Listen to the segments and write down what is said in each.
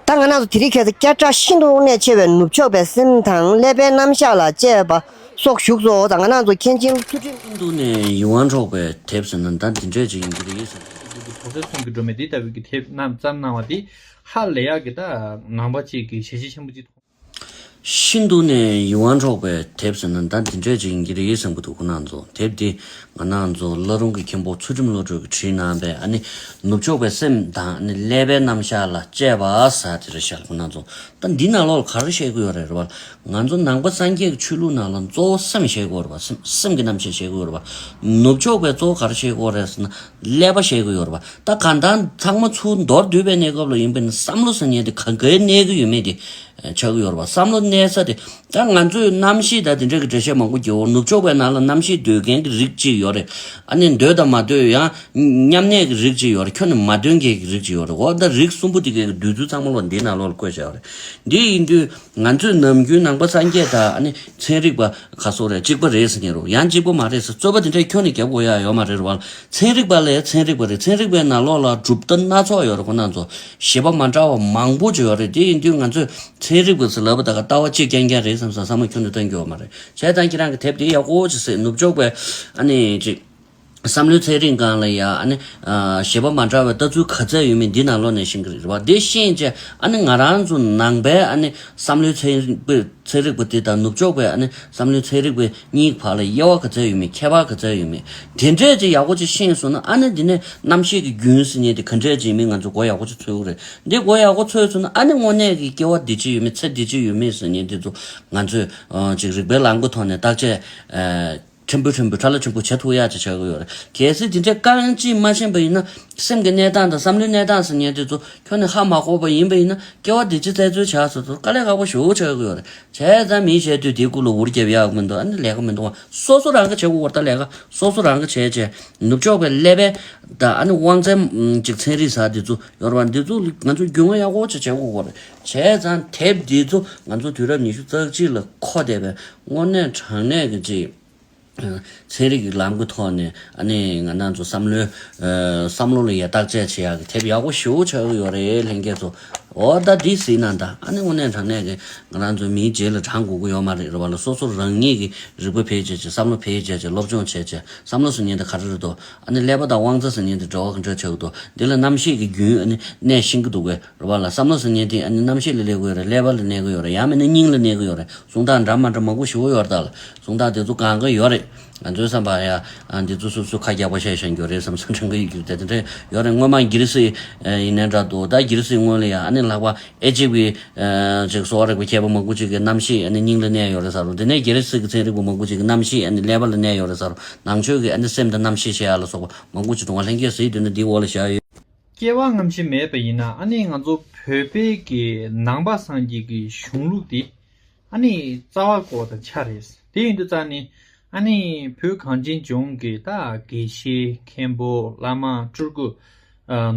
ད་ང་ནང་དུ་དེ་རིགས་ཁྱད་དུ་བསྐྱལ་དྲག་ཤིན་ཏུ་གནད་ཆེ་བའི་ནུབ་ཕྱོགས་པའི་སེམས་དང་ཀླད་པའི་རྣམ་གཞག་ལ་དཔྱད་པ་སོགས་ཞུགས་སོ། ད་ང་ནང་དུ་མཁན་ཆེན་ཚུལ་ཁྲིམས། ཨིན་རྡུ་ནེ་ཡི་ཝང་འཕྲོག་པའི་དེབ་ཟེར་ན་ད་འདི་འདྲས་ཅིག་ཡིན་གྱི་རེད་ཟེར། ཨིན་རྡུ་གྱི་བོད་སྐད་གསུང་གི་སྒྲོན་མེ་འདི་ལྟ་བུའི་གི་དེབ་རྣམས་བརྩམས་གནང་བ་འདི་ཧ་ལས་ཡག་གི་ད་ནང་པ་གཅིག་གི་ཞལ་ཆེ་ཆེན་པོ་གཅིག་མཐོང། ཤིན་ཏུ་ནས་ཡིད་དབང་འཕྲོག་པའི་དེབ་ཟེར་ན་ད་དེ་འདྲས་ཅིག་ཡིན་གྱི་རེད་བསམ་གྱི་འདུག་ཁོ་ན་ཚོ་དེབ་འདི་ང་ན་ཚོ་བླ་རུང་གི་མཁན་པོ་ཚུལ་ཁྲིམས་བློ་གྲོས་ཀྱིས་བྲིས་གནང་པའི་ཨ་ནི་ནུབ་ཕྱོགས་པའི་སེམས་དང་ཨ་ནི་ཀླད་པའི་རྣམ་གཞག་ལ་དཔྱད་པ་ཟེར་དེ་རེད་ཤག་ཁོ་ན་ཚོ་ད་འདི་ནག་ལོག་ལ་ག་རེ་བཤད་གི་ཡོད་རེད་རེད་བ་ང་ཚོ་ནང་པ་སངས་རྒྱས་ཀྱི་ཆོས་ལུགས་ནང་ལ་གཙོ་བོ་སེམས་བཤད་གི་ཡོད་རེད་བ་སེམས་སེམས་ཀྱི་རྣམ་བཤད་བཤད་གི་ཡོད་རེད་བ་ནུབ་ཕྱོགས་པའི་གཙོ་བོ་ག་རེ་བཤད་གི་ཡོད་རེད་ཟེར་ན་ཀླད་པ་བཤད་གི་ཡོད་རེད་པ་ད་གང་ལྟར་ཚང་མ་ཚུར་མདོར་བསྡུས་པའི་གནས་སྐབས་ལ་ཡིན་པས་ན་བསམ་བློ་ཟ་ཉལ་དེ་ག་འགའི་གནས་གི་ཡོད་མེད་དེ་ཆགས་གི་ཡོད་རེད་པ་བསམ་བློ་གནས་ས་དེ་ད་ང་ཚོས་རྣམ་བཤད་ད་དེ་འདྲ་གི་འགྲེལ་བཤད་མང་པོ་བགྱིའོ་ནུབ་ཕྱོགས་པའི་ནང་ལ་རྣམ་བཤད་འདོད་མཁན་གི་རིགས་གཅིག་ཡོད་རེད་ཨ་ནི་འདོད་དང་མ་འདོད་ཡང་མཉམ་གནས་གི་རིགས་གཅིག་ཡོད་རེད་ཁྱོད་ནི་མ་འདོད་མཁན་གི་རིགས་གཅིག་ཡོད་རེད་འོ་ད་རིགས་གསུམ་པོ་དེ་གའི་བསྡུས་ཚུལ་ཚང་མ་ལོ་འདིའི་ནང་ལོགས་ལ་བཀོད་བྱས་པ་རེད་འདི་ཡིན་དུས། ང་ཚོས་ནམ་རྒྱུན་ནང་པ་སངས་རྒྱས་དང་ནི་ཚན་རིག་པ་ག་སོགས་རེད་གཅིག་པ་རེད་ཟེར་གྱིན་རུང་ཡང་གཅིག་པོ་མ་རེད་ཟེར་རྩོད་པ་དེ་འདྲས་ཁྱོན་ནས་རྒྱབ་དགོས་ཡ་ཡོད་མ་རེད་རུང་བ་ལ་ཚན་རིག་པ་ལས་ཚན་རིག་པ་རེད་ཚན་རིག་པའི་ནང་ལོགས་ལ་གྲུབ་མཐའ་སྣ་ཚོགས་ཡོད་རེད་ཁོ་ནར་འཚོ་ཞེས་པ་མ་འདྲ་བ་མང་པོ་ཅིག་ཡོད་རེད་དེ་ཡིན་དུས་ང་ཚོས་ཚན་རིག་པ་ཟེར་ལབ་པ་དག་ལྟ་བ་གཅིག་རྐྱང་རྐྱང་རེད་བསམ་བསམ་བསམ་བསམ་བློ་ཁྱོན་ནས་གཏོང་རྒྱུ་ཡོད་མ་རེད་བྱས་ཙང་ཁྱེད་རང་གི་དེབ་དེ་ཡག་པོ་ཅིག་སེ་ནུབ་ཕྱོགས་པའི་ཨ་ནི་ཅིག། བསམ་བློའི་ཚད་རིང་གང་ལ་ཡ། ཞེས་པ་མ་འདྲ་བའི་ལྟ་ཚུལ་ག་ཚད་ཡོད་མེད་འདི་ནང་ལོགས་ནས་ཤེས་གི་རེད་བ། དེ་ཤེས་རྗེས་ང་རང་ཚོ་ནང་པའི་བསམ་བློའི་ཚད་རིག་པ་དེ་དང་ནུབ་ཕྱོགས་པའི་བསམ་བློའི་ཚད་རིག་པ་གཉིས་བར་ལ་དབྱེ་བ་ག་ཚད་ཡོད་མེད་ཁྱད་པར་ག་ཚད་ཡོད་མེད་དེ་འདྲས་ཅིག་ཡག་པོ་ཅིག་ཤེས་སོང་ན་ཨ་ནི་དེ་ནས་རྣམ་ཤེས་ཀྱི་རྒྱུན་ཟེར་ནས་དེ་ག་འདྲས་ཅིག་ཡིན་མིན་ང་ཚོ་མགོ་ཡག་པོ་ཅིག་འཚོས་ཀི་རེད། དེ་མགོ་ཡག་པོ་འཚོས་སོང་ན་ཨ་ནི་དངོས་གནས་ཀྱི་སྐྱེ་བ་འདི་ཅིག་ཡོད་མེད་ཚེ་འདི་ཅིག་ཡོད་མེད་ཟེར་ནས་དེ་ཚོ་ང་ཚོས་ཅིག་རིག་པའི་ལམ་གྱི་ཐོག་ནས་བརྟག་དཔྱད། ཕྲན་བུ་ཕྲན་བུ་ཁྲ་ལ་ཕྲན་བུ་བྱེད་ཐུག་ཡག་ཅིག་བྱ་དགོས་ཡོད་རེད། གལ་སྲིད་དེ་འདྲའི་དཀའ་ངལ་ཅིག་མ་ཕྱིན་པ་ཡིན་ན། སེམས་ཀྱི་གནས་སྟངས་དང་བསམ་བློའི་གནས་སྟངས་ཟེར་ཉེན་དེ་ཚོ་ཁྱོན་ནས་ཧ་མ་གོ་བ་ཡིན་པ་ཡིན་ན། སྐྱེ་བ་བདེ་སྐྱིད་བཙལ་འཚོལ་བྱ་ཟེར་ཚོར་དཀའ་ལས་ཁག་པོ་ཞུ་བྱ་དགོས་ཡོད་རེད། བྱས་ཙང་མིས་བྱས་དུས་དེའི་སྐུ་ལུ་འུར་རྒྱབ་ཡག་མི་འདུག་ཨ་ནི་ལས་ཀ་མི་འདུག་སོ་སོ་རང་གིས་བྱེད་དགོས་བར་ད་ལས་ཀ་སོ་སོ་རང་གིས་བྱས་རྗེས་ནུབ་ཕྱོགས་པའི་ཀླད་པའི། དང་ཨ་ནི་དབང་རྩའི། ཅིག་ཚན་རིག་ས་དེ་ཚོ་ཡོད་རེད་བ་འདི་ཚོ་ང་ཚོས་རྒྱུས་མངའ་ཡག་པོ་ཅིག་བྱེད་དགོས་བར་བྱས་ཙང་དེབ་འདི་ཚོ་ང་ཚོ་དུས་རབས་ཉི་ཤུ་རྩ་གཅིག་ལ་མཁོ་བསྡད་པའི་སྔོ་ནད་དྲག་ནད་ཀྱི་ཅིག་ཚན་རིག་གི་ལམ་གྱི་ཐོག་ནས་ཨ་ནེ་ང་རྣམས་ཚོ་བསམ་བློའི་བསམ་བློ་ལ་ཡ་བརྟག་དཔྱད་བྱེད་ཡག་གི་དེབ་ཡག་པོ་ཞུ་ཆོག་གི་ཡོད་རེད་ལྷན་རྒྱས་ཚོ་འོ་ད་འདི་ཟིན་ན་ད་ཨ་ནེ་སྔོ་ནད་དྲག་ནད་ཀྱི་ང་རང་ཚོའི་མིའི་རྗེས་ལ་འབྲང་དགོས་ཀྱི་ཡོད་མ་རེད་རེད་བ་ལ་སོ་སོ་རང་ཉིད་ཀྱི་རིག་པ་འཕེལ་བྱེད་ཀྱི་བསམ་བློ་འཕེལ་བྱེད་ཀྱི་སློབ་སྦྱོང་བྱེད་ཀྱི་བསམ་བློ་ཟེར་ཉིན་དེ་ག་རེ་རེད་དོ་ཨ་ནེ་ཀླད་པ་དང་དབང་རྩ་ཟེར་ཉིན་དེ་འགྲོ་ག་འདྲ་ཆགས་ཀྱི་འདུག་འདི་ལ་རྣམ་ཤེས་ཀྱི་རྒྱུན་ཨ་ནེ་ནད་ཤིང་གི་འདུག་པས། རུ་བ་ལ་བསམ་བློ་ཟིང་ངེ་དེ་ཨ་ནི་གནམ་གཤིས་ལ་གླེགས་གོས་རེད་ཀླད་པ་ལ་གནས་གོས་ཡོད་རེད་ཡང་མིན་ན་སྙིང་ལ་གནས་གོས་ཡོད་རེད་གཟུངས་ཐག་འདྲ་མ་འདྲ་མང་པོ་བཞི་བོ་ཡོད་རེད་ད་ལ་གཟུངས་ཐག་དེ་ཚོ་གང་གི་ཡོད་རེད་ང་ཚོའི་བསམ་པ་ཡ་འདི་ཚོ་སོ་སོས་ཁ་རྒྱག་པ་བཤད་བཞིན་རྒྱུ་རེད་བསམ་བསམ་དྲན་གི་ཡོད་རྒྱུ་དེ་དེ་འདྲ་ཡོད་རེད་སྔོན་མ་རྒྱལ་སྲིད་ཡིན་ནའི་འདྲ་འདུག་ད་རྒྱལ་སྲིད་སྔོན་ལ་ཡང་ཨ་ནི་ལྷག་པ་ཨེ་ཅིབ་ཀྱི་ཅིག་སོག་རིག་པ་མཁས་པ་མང་པོ་ཅིག་གི་གནམ་གཤིས་ཨ་ནི་སྙིང་ལ་གནས་ཡོད་རེད་ས་རུ་དེ་ནས་རྒྱལ་སྲིད་ཀྱི་ཚན་རིག་པ་མང་པོ་ཅིག་གི་གནམ་གཤིས་ཨ་ནི་ཀླད་པ་ལ་གནས་ཡོད་རེད་ས་རུ་ནང་ཆོས་ཀྱི་ཨ་ནི་སེམས་དང་རྣམ་ཤེས་ཤེས་ཡ་ལ་སོགས་པ་མང་པོ་ཅིག་བགྲོང་བ་ལྷན་སྐྱེས་སེའི་དུས་ན་འདིའི་འོག་ལ་བཞག་ཡོད། སྐྱེ་བ་རྔམ་བྱེད་མེད་པ་ཡིན་ན་ཨ་ནི་ང་ཚོ་བོད་པའི་གི་ནང་པ་སངས་རྒྱས་ཀྱི་གཞུང་ལུགས་དེ་ཨ་ནི་རྩ་བ་བརྐོ་བ་དང་ཆ་རེད་དེ་ཡིན་དུ་རྩ་ནི་ཨ་ནི་བོད་གངས་ཅན་ལྗོངས་ཀྱི་རྟ་དགེ་བཤེས་མཁན་པོ་བླ་མ་སྤྲུལ་སྐུ།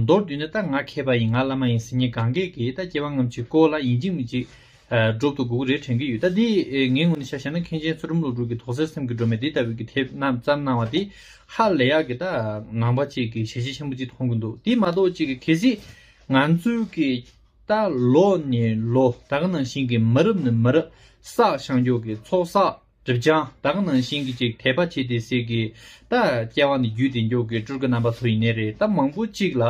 མདོར་བསྡུས་ནས་རྟ་ང་མཁས་པ་ཡིན་ང་བླ་མ་ཡིན་ཟེར་ཉིན་གང་གས་ཀྱི་རྟ་སྐྱེ་བ་རྔམ་བྱེད་བརྐོ་ལ་ཡིན་གཅིག་མི་གཅིག་སྒྲུབ་ཏུ་འགུགས་རེ་དྲན་གྱི་ཡོད་ད་དེ་ངའི་ངོ་ནས་ཤ་ཞེན་ན་མཁན་ཆེན་ཚུལ་ཁྲིམས་བློ་གྲོས་ཀྱི་དོགས་སེལ་སེམས་ཀྱི་སྒྲོན་མེ་འདི་ལྟ་བུའི་གི་དེབ་རྣམས་བརྩམས་གནང་བ་དེ་ཧ་ལས་ཡག་གི་ད་ངང་པ་གཅིག་གི་ཞལ་ཤེས་ཆེན་པོ་གཅིག་མཐོང་གི་འདུག་དེ་མ་གཏོགས་གཅིག་གི་གལ་སྲིད་ང་ཚོའི་གི་ད་ལོ་ནས་ལོ་ད་ག་ནང་བཞིན་གི་མ་རབས་ནས་མ་རབས་བསགས་ཤངས་ཀྱོག་གི་ཚོགས་བསགས། སྒྲིབ་སྦྱང་དག་ནང་བཞིན་གྱི་ཅིག་དད་པ་བྱེད་དེ་སྲིད་ཀྱི་ད་སྐྱེ་བ་ནི་རྒྱུད་སྡེ་མགྱོགས་ཀྱི་སྤྲུལ་སྐུ་རྣམ་པ་ཚོ་ཡིན་ནི་རེད་ད་མང་པོ་ཅིག་ལ་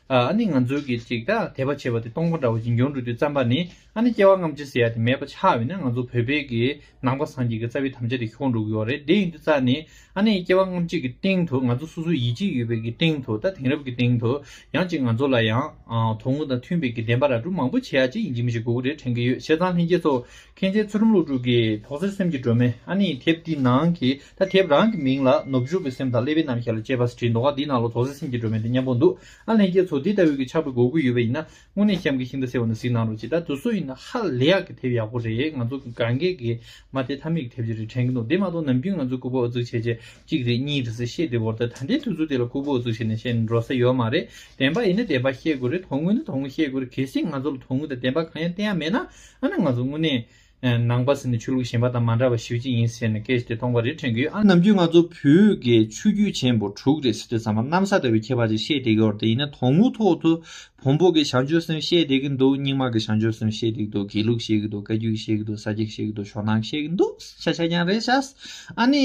ཨ་ནི་ང་ཚོའི་གི་ཅིག་ད་དད་པ་བྱེད་པ་དེ་སྟོང་པ་འདྲ་བོ་ཅིག་འགྱོང་འགྲོ་དུས་བརྩམས་པ་ནི་ཨ་ནི་སྐྱེ་བ་རྔམ་བྱེད་ཟེར་ཡ་དེ་མེད་པ་ཆགས་ཡོད་ན་ང་ཚོ་བོད་པའི་གི་ནང་པ་སངས་རྒྱས་ཀྱི་རྩ་བའི་དམ་བཅའ་དེ་ཁྱོག་འགྲོ་གི་ཡོད་རེད་དེ་ཡིན་དུས་རྩ་ནི་ཨ་ནི་སྐྱེ་བ་རྔམ་བྱེད་ཀྱི་སྟེང་དུ་ང་ཚོ་སོ་སོའི་ཡིད་ཆེས་ཡོད་པའི་གི་སྟེང་དུ་ད་དེང་རབས་ཀྱི་སྟེང་དུ་ཡང་ཅིག་ང་ཚོ་ལ་ཡང་དོ་དངོས་དང་མཐུན་པའི་གི་བདེན་པ་ར་སྤྲོད་མང་པོ་བྱེད་ཡ་ཅིག་ཡིན་གྱི་མི་ཤེས་དགུག་རེ་དྲན་གྱི་ཡོད་བྱས་ཙང་ལྷན་རྒྱས་ཚོ་མཁན་ཆེན་ཚུལ་ཁྲིམས་ཀླུ་སྒྲུབ་ཀྱིས་དོགས་ཟོན་སེམས་ཀྱི་སྒྲོན་མེ་ཨ་ནི་དེབ་འདི་ནང་གི་ད་དེབ་རང་གི་མིང་ལ་ནུབ་ཕྱོགས་ཀྱི་སེམས་དང་ཀླད་པའི་རྣམ་གཞག་ལ་དཔྱད་པ་ཟེར་བྲིས་འདུག་ཨ་འདིའི་ནང་ལ་དོགས་ཟོན་སེམས་ཀྱི་སྒྲོན་མེ་འདི་སྙམ་པོ་འདུག་ཨ་ལྷན་རྒྱས་ཚོ་འདི་ལྟ་བུའི་གི་ཆགས་པའི་གོ་དགོས་ཡོད་པ་ཡིན་ན་དངོས་གནས་གཤམ་གྱི་ཤིང་རྟ་ཟེར་བ་འདི་གཟིགས་གནང་རོགས་གྱིས་ད་དུས་སུ་ཡིན་ན་ཧ་ལས་ཡག་གི་དེབ་ཡག་པོ་རེད་ང་ཚོ་གི་གངས་སྐས་ཀྱི་མ་དེ་ཐ་མི་གི་དེབ་ཅིག་རེད་དྲན་གྱི་འདུག་དེ་མ་གཏོགས་ནམ་རྒྱུན་ང་ཚོའི་ཁུག་པ་ཨུ་ཚུགས་བྱས་བྱས་གཅིག་རེད་གཉིས་རེད་ཟེར་བཤད་དེ་བོར་ད་ད་ལྟའི་དུས་ཚོད་དེ་ལ་ཁུག་པོ་ཨུ་ཚུགས་བྱས་ནས་བཤད་ནས་འགྲོ་ས་ཡོད་མ་རེད་བདེན་པ་ཡིན་ན་བདེན་པ་བཤད་དགོས་རེད་དོགས་དངུལ་ན་དོགས་དངུལ་བཤད་དགོས་རེད་གལ་སྲིད་ང་ཚོ་ལ་དོགས་དངུལ་དང་བདེན་པ་གང་ཡང་བསྟན་ཡ་མེད་ན་ཨ་ནི་ང་ཚོ་དངོས་གནས་ནང་པ་ཟེར་ནས་ཆོས་ལུགས་གཞན་པ་དང་མ་འདྲ་བར་ཞི་བྱེད་ཡིན་ཟེར་ནས་སྐད་ཆ་དེ་སྟོང་པ་རེད་དྲན་གི་ཡོད་ཨ། ནམ་རྒྱུན་ང་ཚོ་བོད་དགེ་ཆོས་བརྒྱུད་ཆེན་པོ་དྲུག་རེད་ཟེར་དུས་ཚང་མ་གནམ་ས་ལྟ་བུའི་ཁྱད་པར་ཅིག་བཤད་བསྡད་གི་འོར་དེ་ཡིན་ན་དོང་མུའུ་ཐོག་ཏུ་བོང་བུ་དགེ་བྱང་ཆོས་སེམས་བཤད་བསྡད་གི་འདུག་རྙིང་མ་དགེ་བྱང་ཆོས་སེམས་བཤད་བསྡད་གི་འདུག་དགེ་ལུགས་བཤད་གི་འདུག་བཀའ་བརྒྱུད་བཤད་གི་འདུག་ས་སྐྱ་བཤད་གི་འདུག་ཤ་ཤ་རྐྱང་རེད་ཤགས། ཨ་ནི།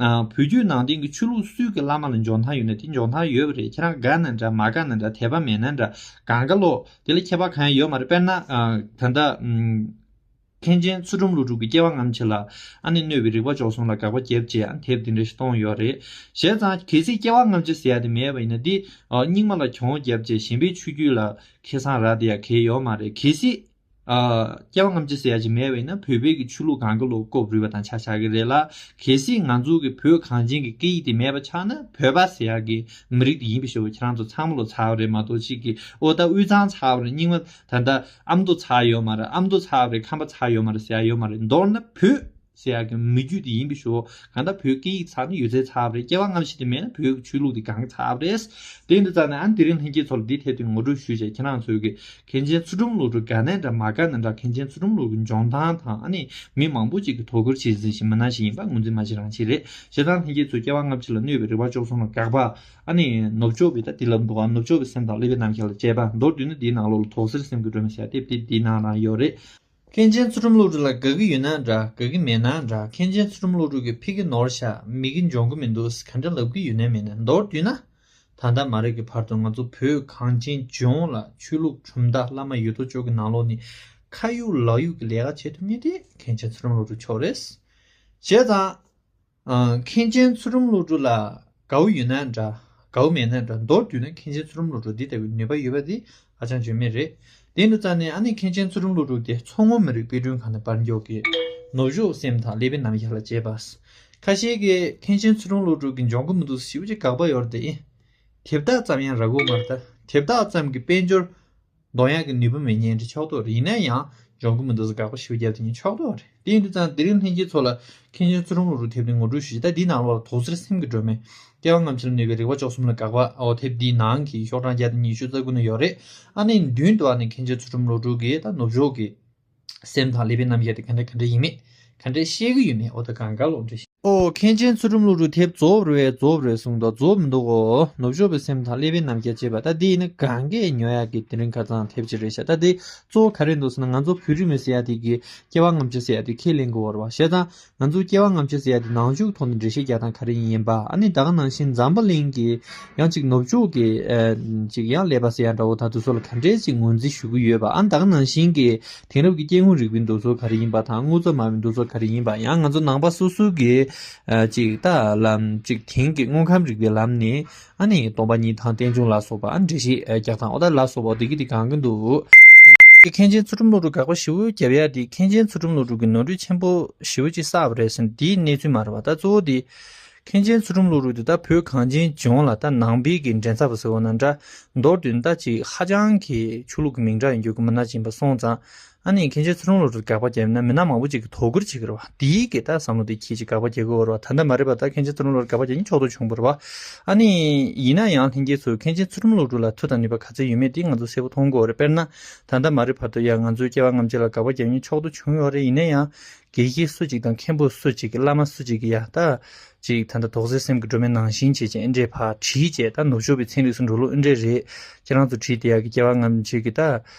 བོད་བརྒྱུད་ནང་བསྟན་གྱི་ཆོས་ལུགས་སུས་ཀྱི་བླ་མ་ལ་འཇོག་མཐའ་ཡོད་ན་དེ་འཇོག་མཐའ་ཡོད་རེད་ཁྱེད་རང་དགའ་ན་འདྲ་མ་དགའ་ན་འདྲ་དད་པ་མེད་ན་འདྲ་དགའ་མཁའ་ལོ། དེ་ལ་ཁྱད་པར་གང་ཡང་ཡོད་མ་རེད་དཔེར་ན། ད་ལྟ། མཁན་ཆེན་ཚུལ་ཁྲིམས་ཀླུ་སྒྲུབ་ཀྱི་སྐྱེ་བ་ངམ་ཕྱི་ལ། ཨ་ནེ་གནོད་པའི་རིག་པ་འཇོག་སོང་ལ་དགག་པ་རྒྱབ་རྗེས་ཨ་དེབ་འདི་འདྲ་ཞིག་གཏོང་ཡོད་རེད། བྱས་ཙང་གལ་སྲིད་སྐྱེ་བ་ངམ་ཕྱི་ཟེར་ཡ་དེ་མེད་པ་ཡིན་ན་འདི། རྙིང་མ་ལ་གྱོང་བོ་རྒྱབ་རྗེས་གཞན་པའི་ཆོས་བརྒྱུད་ལ་ཁེ་བཟང་རག་དེ་ཡ་གལ་ཡོད་མ་རེད་གལ་སྲིད། རྐྱེན་ཐམས་ཅད་ཟད་ཅིང་མེད་བས་ན་བོད་པའི་གི་ཆོས་ལུགས་གང་གི་ལོག་སྐོབས་རུལ་བ་དང་ཆ་ཆགས་ཀྱི་རེད་ལ། གལ་སྲིད་ང་ཚོ་གི་བོད་གངས་ཅན་གི་སྐད་ཡིག་དེ་མེད་པ་ཆགས་ན་བོད་པ་ཟེར་ཡག་གི་མི་རིགས་དེ་ཡིན་པའི་ཤོ་བ་ཁྱེད་རང་ཚོ་ཚང་མ་ལོ་ཚ་བ་རེད་མ་གཏོགས་གཅིག་གི་ཨོ་ད་དབུས་གཙང་ཚ་བ་རེད་རྙིང་མ་ད་ད་ཨ་མདོ་ཚ་ཡོད་མ་རེད་ཨ་མདོ་ཚ་བ་རེད་ཁམས་པ་ཚ་ཡོད་མ་རེད་ཟེར་ཡག་ཡོད་མ་རེད་མདོར་ན་བོད། སེ་ཡ་གི་མི་རྒྱུད་དེ་ཡིན་པའི་ཞོ། གང་ལྟར་བོད་སྐད་ཡིག་ཚགས་ནི་ཡོད་ཚད་ཚགས་རེད་སྐྱེ་བ་སྔ་ཕྱི་དེ་མེད་ན་བོད་ཀྱི་ཆོས་ལུགས་དེ་གང་གི་ཚབ་རེད། དེ་འདི་ཙམ་ནས་ཨ་དེ་རིང་ལྷན་རྒྱས་ཚོ་ལ་འདི་ཐད་དུ་ངོ་སྤྲོད་ཞུ་བྱས་ཁྱེད་རང་ཚོས་གི་གངས་ཅན་ཚུལ་ཁྲིམས་ལུགས་དྲུག་དགའ་ན་འདྲ་མ་དགའ་ན་འདྲ་གངས་ཅན་ཚུལ་ཁྲིམས་ལུགས་ཀྱི་འཇོན་ཐང་དང་ཨ་ནི་མི་མང་པོ་ཅིག་གི་དོ་ཁུར་བྱེད་ཟིན་ཞིག་མི་སྣ་ཞིག་ཡིན་པ་ངོས་འཛིན་མ་བྱེད་རང་བྱེད་རེད་བྱེད་སྟངས་ལྷན་རྒྱས་ཚོས་སྐྱེ་བ་སྔ་ཕྱི་ལ་གནོད་པའི་རེ་བ་གཅོག་སོང་ལ་དགག་པ་ཨ་ནི་ནུབ་ཕྱོགས་པའི་ད་ལྟའི་ལབ་འདུག་ཨ་ནུབ་ཕྱོགས་པའི་སེམས་དང་ཀླད་པའི་རྣམ་ཤེས་ལ་དཔྱད་པ་མདོར་བསྡུས་ན་འདིའི་ནང་ལོགས་ལ་དོག་སེར་སེམས་ཀྱི་སྒྲོན་མེ་ཞལ་དེབ་དེ་འདི་ནང་ན་ཡོད་རེད། མཁན་ཆེན་ཚུལ་ཁྲིམས་བློ་གྲོས་ལ་དགའ་གི་ཡོད་ན་འདྲ་དགའ་གི་མེད་ན་འདྲ་མཁན་ཆེན་ཚུལ་ཁྲིམས་བློ་གྲོས་ཀྱི་ཕི་གི་ནོར་ཤ་མི་གི་འཇོང་གི་མི་འདུག་ཟེ་ག་འདྲ་ལབ་གི་ཡོད་ན་མེད་ན་མདོར་བསྡུས་ན་ད་ལྟ་མ་རེད་གི་བར་དུ་ང་ཚོ་བོད་གངས་ཅན་ལྗོངས་ལ་ཆོས་ལུགས་གྲུབ་མཐའ་བླ་མ་ཡོད་དོ་ཅོག་གི་ནང་ལོགས་ནས་ཁ་གཡུག་ལག་གཡུག་གི་ལས་ཀ་བྱེད་ཐུབ་ངེས་དེ་མཁན་ཆེན་ཚུལ་ཁྲིམས་བློ་གྲོས་མཆོག་རེད། བྱས་ཙང། མཁན་ཆེན་ཚུལ་ཁྲིམས་བློ་གྲོས་ལགས་གའུ་ཡོད་ན་འདྲ་གའུ་མེད་ན་འདྲ་མདོར་བསྡུས་ན་མཁན་ཆེན་ཚུལ་ཁྲིམས་བློ་གྲོས་འདི་ལྟ་བུའི་ནུས་པ་ཡོད་པ་འདི་ཧ་ཅང་བརྗོད་མེད་རེད་དེ་འདྲ་ཙམ་ནས་ཨ་ནི་མཁན་ཆེན་ཚུལ་ཁྲིམས་བློ་གྲོས་དེ་མཚོ་སྔོན་མི་རིགས་དཔེ་སྐྲུན་ཁང་ནས་པར་འགྱོག་གིས་ནུབ་ཕྱོགས་སེམས་དང་ལེ་བྷི་ནམ་ཡར་ལ་བྱས་པ། ཁ་ཤེས་ཀྱིས་མཁན་ཆེན་ཚུལ་ཁྲིམས་བློ་གྲོས་ཀྱི་འབྱོང་གི་མི་འདུག་ཞིབ་ཅིག་དགག་པ་ཡོར་དེ་དེབ་དག་ཙམ་ཡང་རག་གོ་མ་རེད་ད་དེབ་དག་ཙམ་གྱི་དཔལ་འབྱོར་མདོག་ཡག་གི་ནུས་པ་མི་ཉན་འདི་ཕྱོགས་གཏོགས་རེད་ཡིན་ན་ཡང་སྦྱོང་གི་མི་འདུག་དགག་པ་ཞིབ་རྒྱབ་དེ་ཉིད་ཕྱོགས་གཏོགས་རེད་དེ་ཡིན་དུས་ཙང་དེ་རིང་ལྷན་སྐྱེས་ཚོགས་ལ་མཁན་ཆེན་བཙུན་རོང་ལུག་རུ་ཐེབས་ཏེ་ངོ་སྤྲོད་ཞུས་ད་འདི་ནང་ལོག་ལ་དོགས་ཟེར་སེམས་ཀྱི་སྒྲོན་མེ་སྐལ་བ་རྔམ་ཆེན་ལ་ནུས་པའི་རིག་པ་ཅོག་གསུམ་ལ་དགག་པ་འོ་ཐེབས་འདི་ནང་གི་ཤོག་གྲངས་བརྒྱ་དང་ཉི་ཤུ་རྩ་དགུ་ན་ཡོད་རེད་ཨ་ནི་མདུན་དུ་ཨ་ནི་མཁན་ཆེན་ཚུལ་ཁྲིམས་བློ་གྲོས་ཀྱིས་ད་ནུབ་ཕྱོགས་ཀྱི། སེམས་དང་ཀླད་པའི་རྣམ་གཞག་དེ་ག་འདྲ་ག་འདྲ་ཡིན་མེད་ག་འདྲ་ཤེས་ཀྱི་ཡོད་མེད་འོ་ད་གང་དགའ་ལོག་འདྲ་ཤེས། ཨོ་མཁན་ཆེན་ཚུལ་ཁྲིམས་ཀླུ་རུ་དེབ་རྫོབ་རེད་རྫོབ་རེད་གསུངས་འདུག་རྫོབ་མི་འདུག་གོ་ནུབ་ཕྱོགས་པའི་སེམས་དང་ཀླད་པའི་རྣམ་གཞག་ཅེས་པ་ད་འདི་ཡིན་ན་གང་གཱའི་ཉོ་ཡག་གི་དེ་རིང་ཁ་ཚང་དེབ་ཅིག་རེད་ཤག་ད་འདི་གཙོ་བོ་ག་རེད་འདུག་ཟེར་ན་ང་ཚོ་བོད་རིགས་མི་ཟེར་ཡག་དེ་གི་སྐྱེ་བ་རྔམ་བརྗིད་ཟེར་ཡག་དེ་ཁས་ལེན་དགོས་བར་བ་ཞེ་སྡང་ང་ཚོ་སྐྱེ་བ་ལྔ་བཅུ་ཟེར་ཡ་དེ་ནང་འཇུག་ཐོག་ནས་འགྲེལ་བཤད་རྒྱག་སྟངས་ག་རེ་ཡིན་པ་ཨ་ནི་ད་ག་ནང་བཞིན་འཛམ་བུ་གླིང་གི་ཡང་ཅིག་ནུབ་ཕྱོགས་ཀྱི་ཅིག་ཡང་ཀླད་པ་ཟེར་ཡ་འདྲ་བོ་དང་དུས་ཚོད་ལ་ག་འདྲེ་ཅིག་ངོས་འཛིན་ཞུ་གི་ཡོད་པ་ཨ་ནི་ད་ག་ནང་བཞིན་གྱི་དེང་རབས་ཀྱི་སྐྱེ་དངོས་རིག་པའི་འདུ་ཚོགས་ག་རེ་ཡིན་པ་དང་དངོས་གཙོ་སྨྲ་བའི་འདུ་ཚོགས་ག་རེ་ཡིན་པ་ཡང་ང་ཚོ་ནང་པ་སོ་སོ་གིས་ཅིག་ལྟ་ལམ་ཅིག་དེང་གི་དངོས་ཁམས་རིག་པའི་ལམ་ནས་ཨ་ནི་སྟོང་པ་ཉིད་དང་རྟེན་འབྱུང་ལ་སོགས་པ་ཨ་ནི་འབྲས་བཞི་བརྒྱ་དང་ཨོ་ད་ལ་སོགས་པའོ་བདུད་ཀྱི་དེ་གང་གི་འདུག། ཀྱི་མཁན་ཆེན་ཚུལ་ཁྲིམས་བློ་གྲོས་དགག་པ་བཞི་བོའི་རྒྱབ་ཡ་དེ་མཁན་ཆེན་ཚུལ་ཁྲིམས་བློ་གྲོས་ཀྱི་ནོར་འཁྲུལ་ཆེན་པོ་བཞི་བོ་གཅིག་བསགས་པ་རེད་ཟེར་འདིའི་གནས་ཚུལ་མ་རེད་བ་ད་གཙོ་བོ་དེ། མཁན་ཆེན་ཚུལ་ཁྲིམས་བློ་གྲོས་དེ་ད་བོད་གངས་ཅན་ལྗོངས་ལ་ད་ནང་པའི་གི་འགྲན་ཚབ་པ་ཟེར་བ་ན་འདྲ་མདོར་དུ་ད་ཅིག་ཧ་ཅང་གི་ཆོས་ལུགས་ཀྱི་མིང་འདྲ་ཡིན་རྒྱུ་གི་མི་ནག་ཅིང་པ་སོང་ཙང་ཨ་ནི་ཁྱེད་ཆེ་ཚུར་རང་ལོག་ཏུ་དགག་པ་རྒྱབ་ན་མི་ནག་མང་པོ་ཅིག་གི་དོ་ཁུར་བྱེད་དགོས་རེད་བ་འདིའི་གི་ད་བསམ་བློ་དེ་ཁྱེད་ཀྱི་དགག་པ་རྒྱག་དགོས་བོར་བ་ད་ད་མ་རེད་བ་ད་ཁྱེད་ཆེ་ཚུར་རང་ལོག་ཏུ་དགག་པ་རྒྱག་ཀྱིན་ཆོག་ཏུ་བྱུང་བོར་བ་ཨ་ནི་ཡིན་ན་ཡང་ལྷན་རྒྱས་སུ་ཁྱེད་ཆེ་ཚུར་རམ་ལོག་ཏུ་ལ་མཐུ་དང་ནུས་པ་ག་ཚད་ཡོད་མེད་འདི་ང་ཚོ་གསལ་པོ་མཐོང་དགོས་བོར་རེད་དཔེར་ན་ད་ད་མ་རེད་བར་དུ་ཡང་ང་ཚོའི་སྐྱེ་བ་རྔམ་བྱེད་ལ་དགག་པ་རྒྱག་ཀྱིན་ཆོག་ཏུ་བྱུང་ཡོད་རེད་ཡིན་ན་ཡང་དགེ་བཤེས་སུ་ཅིག་དང་མཁན་པོ་སུ་ཅིག་གི་བླ་མ་སུ་ཅིག་གི་ཡ་ད་ཅིག་ད་ད་དོག་ཟེར་སེམས་ཀྱི་སྒྲོན་མེ་ནང་བཞིན་བྱེད་ཅིང་ཨེ་འདྲས་བར་བྲིས་བྱས་ད་ནུབ་ཕྱོགས་པའི་ཚན་རིགས་སུ་འགྲོ་ལུགས་ཨེ་འདྲས་རེད་ཁྱེད་རང་ཚོ་བྲིས་དེ་ཡ་གི་སྐྱེ་བ་རྔམ་བྱེད་གི་ད་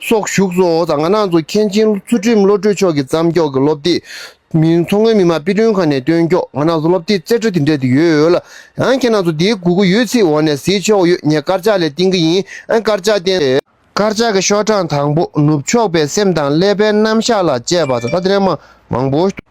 སོགས་བཞུགས་སོ། ད་སྔ་ནང་ཚོགས་མཁན་ཆེན་ཚུལ་ཁྲིམས་བློ་གྲོས་མཆོག་གིས་བརྩམས་སྐྱོགས་ཀྱི་སློབ་དེབ། མཚོ་སྔོན་མི་དམངས་དཔེ་སྐྲུན་ཁང་ནས་བཏོན་སྐྱོགས་ང་ནང་ཚོགས་སློབ་དེབ་རྩེ་གྲ་དེ་འདྲ་དེ་ཡོད་ལ། ཡང་ཁྱེད་ནང་ཚོགས་དེའི་དགོས་མཁོ་ཡོད་ཚེ་འོག་ནས་གཟིགས་ཆོག་ཡོད་ངས་དཀར་ཆག་ལས་བཏིང་གི་ཡིན་དཀར་ཆག་བསྟན། དཀར་ཆག་གི་ཤོག་གྲངས་དང་པོ་ནུབ་ཕྱོགས་པའི་སེམས་དང་ཀླད་པའི་རྣམ་གཞག་ལ་དཔྱད་པ་ད་ལྟ་དེ་འདྲའི་མང་པོ།